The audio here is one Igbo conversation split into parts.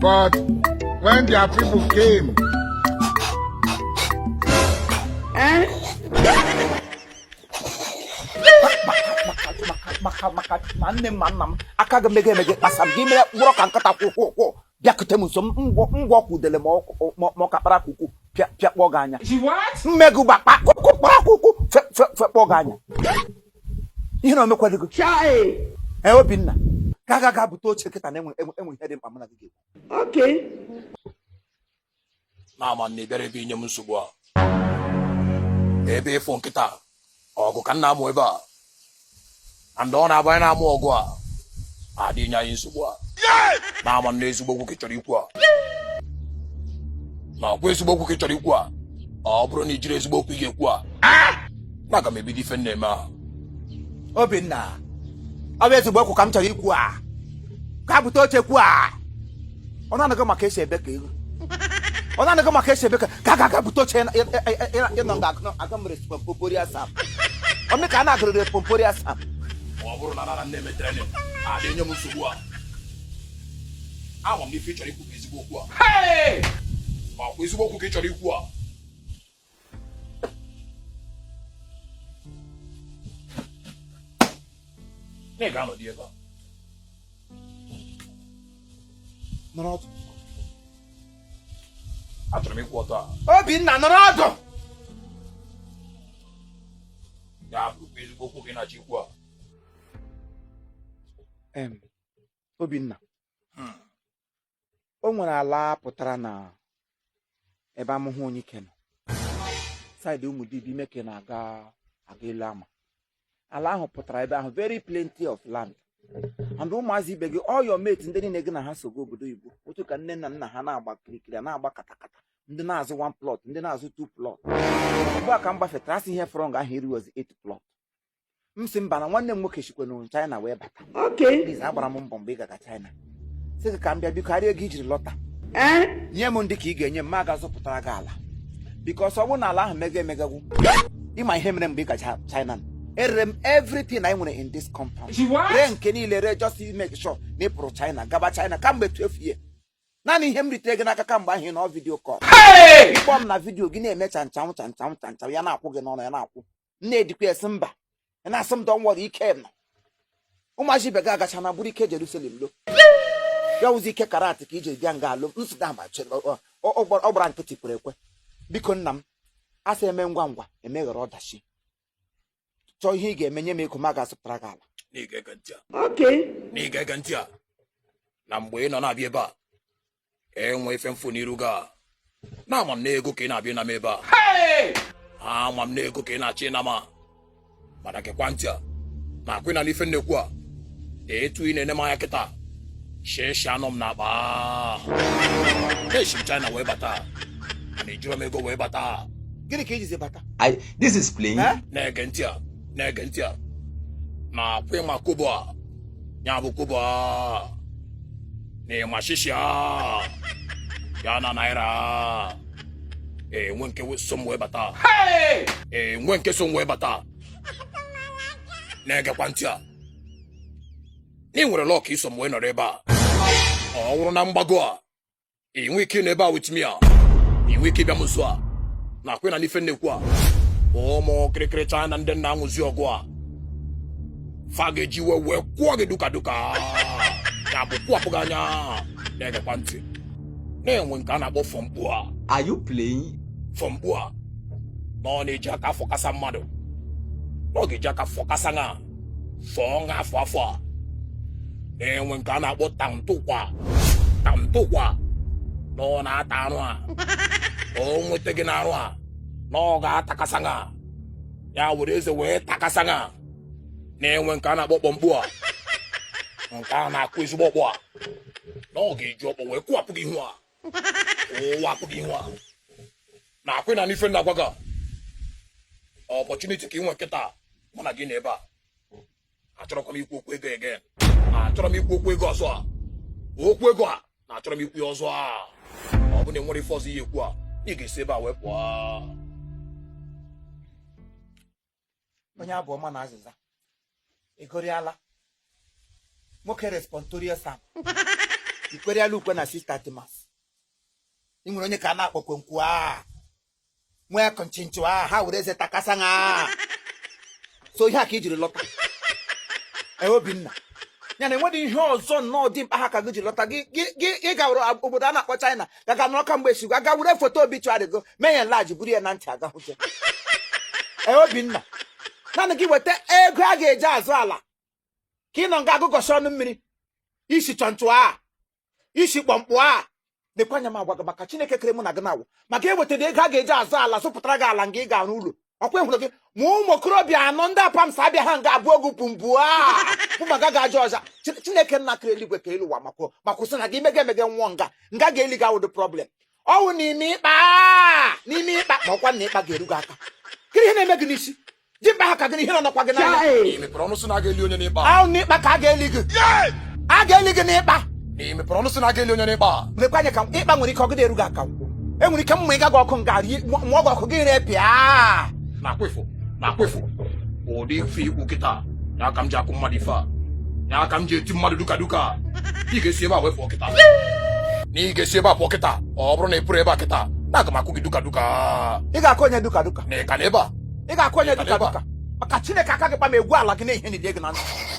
But when their people came, ma nne m ma nna m aka gị mege emege kpasa m gị mere wụrụ ka nkịta kwụ kwụ kwụ bịakute m sọ ngwọ ka udele ma ọ kakpara akwụkwọ pịakpọ gị anya She what? mmegụ gbakpa kụkụ kpara akwụkwọ fekpọ gị anya ihe na omekwadịgo Chai. ee obinna ga ga ga bute oche kịta na enwe ihe dị mkpa mụ na gị ga-ekwu Okay. nna ama m na ịbịara ebe inye m nsogbu a ebe ịfụ nkịta ọgụ ka m na-amụ ebe a and ọ na-abụ anyị na-amụ ọgụ a adị enye anyị nsogbu a nna ama m na ezigbo okwu ka ị chọrọ ikwu a nna ọkwa ezigbo okwu ka ị chọrọ ikwu a ọ bụrụ na ijiri ezigbo okwu ị ga-ekwu a nna aga m ebido ife m na-eme a obinna ọ bụ ezigbo okwu ka m chọrọ ikwu a ga bute oche kwu a ọ na-anago maka esi ebe ka ego ọ na-anago maka esi ebe ka ga ga ga bute oche ịnọ nga aga mere pompori asap ome ka a na-agụrịrị pompori asap ọ bụrụ na m nọrọ na-eme training adị enye m nsogbu a ama m n'ife ị chọrọ ikwu bụ ezigbo okwu a ọkwa ezigbo okwu ka ị chọrọ ikwu a na ị ga-anọdụ ebe a nọrọ ọdụ achọrọ m ịkwụ ọtọ a obinna nọrọ ọdụ ya bụrụkwa ezigbo okwu ka ị na-achọ ikwu a em obinna o nwere ala pụtara na ebe amụhụ onye ike nọ side ụmụ dibi ime ka na-aga elu ama ala ahụ pụtara ebe ahụ very plenty of land and ụmụazị ibe gị all your mates ndị niile gị na ha sogo obodo oyibo otu ka nne na nna ha na-agba kirikiri na-agba katakata ndị na-azụ one plot ndị na-azụ two plot ugbu a ka m gbafetara asị ihe fọrọ nga ahụ erughịzi eight plot m sị mba na nwanne m nwoke sikwenụ China wee bata Please, agbara m mbọ mgbe ị gaga China sị gị ka m bịa biko arịa ego ijiri lọta nye m ndị ka ị ga-enye m m gaa zụpụtara gị ala because ọ bụrụ na ala ahụ mega emegagwu ịma ihe mere mgbe ị gacha China erere m everything anyị nwere in this compound ree nke niile ree just to make sure na ị pụrụ China gaba China kamgbe 12 years naanị ihe m ritere gị n'aka kamgbe ahụ ị nọ video call ịkpọ m na video gị na-eme chanchanwụ chanchanwụ chanchanwụ ya na-akwụ gị n'ọnụ ya na-akwụ na-edikwa esi mba na-asị m dọnwọrọ ike nọ ụmụazị ibe gị agachaana buru ike Jerusalem lọ ya wụzi ike karate ka i ji bịa nga alụ nsụda amachi ọ gbara nkịtị kwere ekwe biko nna m a sị eme ngwa ngwa emeghara ọdachi chọọ ihe ị ga-eme nye m ego m ga-azụpụtara gị ala na-ege ntị a na mgbe ị nọ na-abịa ebe a enwe ife m fụ n'iru gị a na ama m na ego ka ị na-abịa ịna m ebe a ama m na ego ka ị na-achọ ịna m a mana gekwa ntị a na akwa ị na-anụ ife m na-ekwu a etu ị na-ene m anya kịta shishi anọ m n'akpa eshi m China wee bata na ejiro m ego wee bata gịnị ka i jizi bata I, this is playing. na-ege ntị a na-ege ntị a na akwa ị ma kobo a ya bụ kobo a na ị ma shishi a ya na naira enwe nke so m wee bata enwe nke so m wee bata na-egekwa ntị a na ị nwere luck i so m wee nọrọ ebe a ọ wụrụ na mgbago a ị nwee ike ịnọ ebe a with me a ị nwee ike ịbịa m nso a na akwa ị na-anụ ife m na-ekwu a ụmụ kịrịkịrị China ndị na-amụzi ọgụ a fa ga-eji iwe wee kụọ gị duka duka ya bụ kụwapụ gị anya na-egekwa ntị na-enwe nke a na-akpọ fọmkpu a Are you playing? fọmkpu a na ọ na-eji aka afọkasa mmadụ na ọ ga-eji aka fọkasa gị a fọọ gị afọ afọ a na-enwe nke a na-akpọ tamtụkwa tamtụkwa na ọ na-ata arụ a o nweta gị n'arụ a na ọ ga-atakasa gị ya were eze wee takasa gị na-enwe nke a na-akpọ kpọmkpu a nke a na-akụ ezigbo ọkpọ a na ọ ga-eji ọkpọ wee kụwapụ gị ihu a ụwapụ gị ihu a na akwa ị na-anụ ife m na-agwa gị opportunity ka ị nwe kịta mụ na gị nọ ebe a achọrọkwa m ikwu okwu ego again achọrọ m ikwu okwu ego ọzọ a okwu ego a na achọrọ m ikwu ya ọzọ a ọ bụ na enwere ife ọzọ ị ya-ekwu a ị ga-esi ebe a wee pụọ onye abụ ọma na azịza ị gụriala nwoke responsorial psalm i kweriala ukwe na sista timas ị nwere onye ka a na-akpọ kwenkwu a nwee kọnchinchụ a ha were eze takasa ha so ihe a ka i jiri lọta e, Obinna ya na enwedị ihe ọzọ nnọọ dị mkpa ha ka gị jiri lọta gị gawara obodo a na-akpọ China ya ga nọrọ kamgbe esigwa aga were foto obituary gị mee ya enlarge buru ya na ntị aga hụte ee Obinna naanị gị weta ego a ga-eji azụ ala ka ị nọ nga agụgọsị ọnụ mmiri ị sị chọnchụ a ị sị kpọmkpụ a lekwa anya m agwa gị maka Chineke kere mụ na gị na-awụ maka ewetara ego a ga-eji azụ ala zụpụtara gị ala nga ị ga-arụ ụlọ ọ kwa ị hụrụ gị ma ụmụ okorobịa anọ ndị Apams abịa ha nga ebuo gị pumbu pụmaga ga aja ọja chineke nna kere eluigwe ka elu ụwa makwo ma kwụsị na gị mega emege nwụọ nga nga a ga-eli gị awụdụ problem ọ wụ n'ime ịkpa n'ime ịkpa ma ọ kwa na ịkpa ga-eru gị aka kiri ihe na-eme gị n'isi ji mkpa ha ka gị na ihe na ọ nọkwa gị n'anya ahụ n'ịkpa ka a ga-eli gị a ga-eli gị n'ịkpa na ị mepere ọnụ sị na a ga-eli onye n'ịkpa lekwa anya ka ịkpa nwere ike ọgịda eru gị aka nkwụ enwere ike m mụịga gị ọkụ nga rie mụọ gị ọkụ gị repịa na akwefụ na akwefụ ụdị ife i kwu kịta na aka m ji akụ mmadụ ife a na aka m ji eti mmadụ duka duka ị ga-esi ebe a wee pụọ kịta na ị ga-esi ebe a pụọ kịta ọ bụrụ na ị pụrụ ebe a kịta na aga m akụ gị duka duka ị ga-akụ onye duka duka na ị ka nọ ebe a ị ga-akụ onye duka duka maka chineke aka gị kpa m egwu ala gị na ihe nile gị na ntị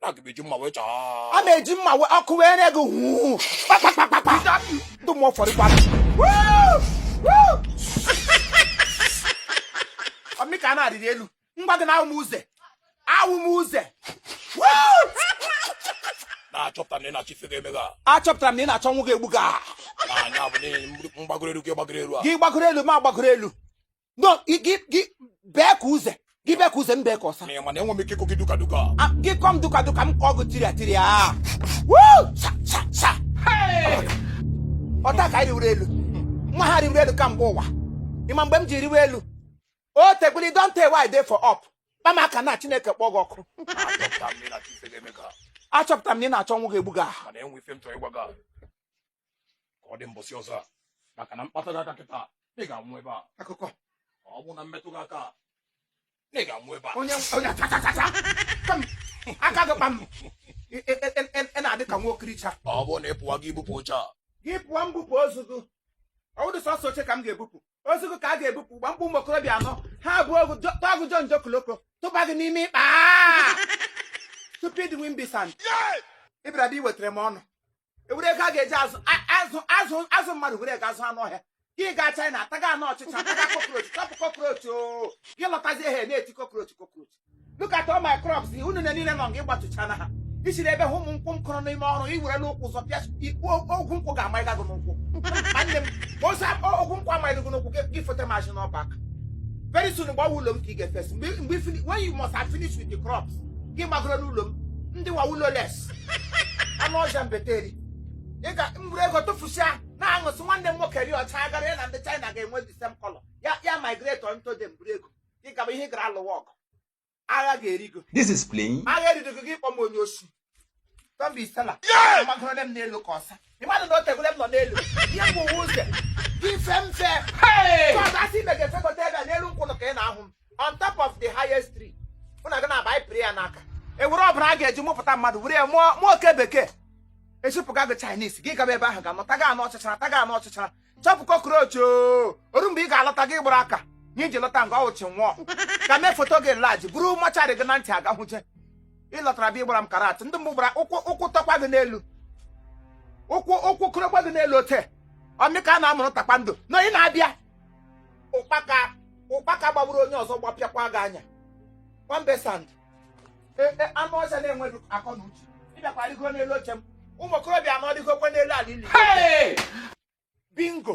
na-eji mma wee chọọ a na-eji mma wee ọkụ wee nye gị huu kpakpakpakpa ndị mmụọ fọrọ ịgba ọ mụ ka a na-arịrị elu m gwa gị na awụ m uze awụ m uze na-achọpụta na ị na-achọ ife ga-eme gị achọpụtara m na ị na-achọ ọnwụ ga-egbu gị a. na anya bụ n'ihi m gbagoro elu gị gbagoro elu a gị gbagoro elu mụ agbagoro elu no gị gị gị bee ka uze gị bee ka uze m bee ka ọsa Ị ma na enwe m ike ịkụ gị duka duka. Ah, gị kụọ m duka duka m kụọ gị tiria tiria Woo! Sa, sa, sa. ọ taa ka anyị rịwere elu nwa ha rịwere elu kamgbe ụwa ị ma mgbe m ji rịwe elu o tegbuli don tey wey I dey for up kpa m aka na chineke kpọọ gị ọkụ Achọpụta m na ife ga-eme ka. achọpụtara m na ị na-achọ ọnwụ ga-egbu gị aha Mana e nwe ife m chọrọ ịgwa gị. ka ọ dị mbọsị ọzọ a maka na m kpatụ gị aka kịta ị ga-anwụ ebe a akụkọ ọ bụ na m metụ gị aka ị ga-anwụ ebe a onye onye achachachacha kpa m aka gị kpa m Ị- ị- ị- ị- ị- ị na-adị ka nwa okiricha ọ bụrụ na ị pụwa gị ebupụ oche a gị pụọ m bupụ ozu gị ọ wụdụ sọsọ oche ka m ga-ebupụ ozu gị ka a ga-ebupụ gbam kpọọ ụmụ okorobịa anọ ha ebuo gị jọ- tụọ gị jọnjọ koloko tụba gị n'ime ịkpa stupid imbecile ị bịara ebe a iwetara m ọnụ e were ego a ga-eji azụ azụ azụ azụ mmadụ were ego azụ anụ ọhịa gị gaa China ataga anụ ọchịcha ataga cockroach chop cockroach o oh. gị lọtazie ha na-eti cockroach cockroach look at all my crops unu na niile nọ nga ị gbatụcha na ha isiri ebe hụ ụmụ nkwụ m kụrụ n'ime ọrụ i were ụkwụ zọpịa ikwu ogwu nkwụ ga-amaịga gị n'ụkwụ nwanne m ozi ogwu nkwụ amaịga gị n'ụkwụ gị fote mazị n'ọba aka very soon gbawa ụlọ m ka ị ga-efesi mgbe when you must have finished with the crops gị gbagoro n'ụlọ m ndị wa ụlọ les anụ ọhịa mbeteri ị ga m buru ego tụfusịa na-aṅụsị nwanne m nwoke ri ọcha gara ya na ndị China ga-enwe the same color ya ya migrate on to them buru ego gị gaba ihe ị gara alụwa ọgụ agha ga-eri gị This is playing. agha erigo gị ị kpọ m onye osi tọmbi isela amagoro m n'elu ka ọsa ị madụ na o tegole m nọ n'elu ihe m bu ụzọ gị fe mfe Hey! chọọchị a sị ime ga-efekọta ebe a n'elu nkwụnụ ka ị na-ahụ m on top of the highest tree mụ na gị na-aba anyị pịrị ya n'aka ewere ọbara a ga-eji mụpụta mmadụ were ya mụọ oke bekee eshipụga gị Chinese gị gaba ebe ahụ ga-anọ taga anụ ọchịcha taga anụ ọchịcha chọpụ cockroach o ru mgbe ị ga-alọta gị gbara aka ihe i ji lọta nga ọ wụ chi nwụọ ka mee foto gị laji buru mọcharị gị na ntị aga hụje ịlọtara bịa ịgbara m karate ndị mbụ gbara ụkwụ ụkwụ tọkwa gị n'elu ụkwụ kwụrụkwa gị n'elu ote ọmịka a na-amụrụ takpando na ị na-abịa ụkpaka gbagburu onye ọzọ gbapịakwa gị anya nwambe sand e, anụ ọhịa na-enweghị akọ na uche ịbịakwa rịgo n'elu oche m ụmụ okorobịa anọ dịgokwa n'elu ala ili bingo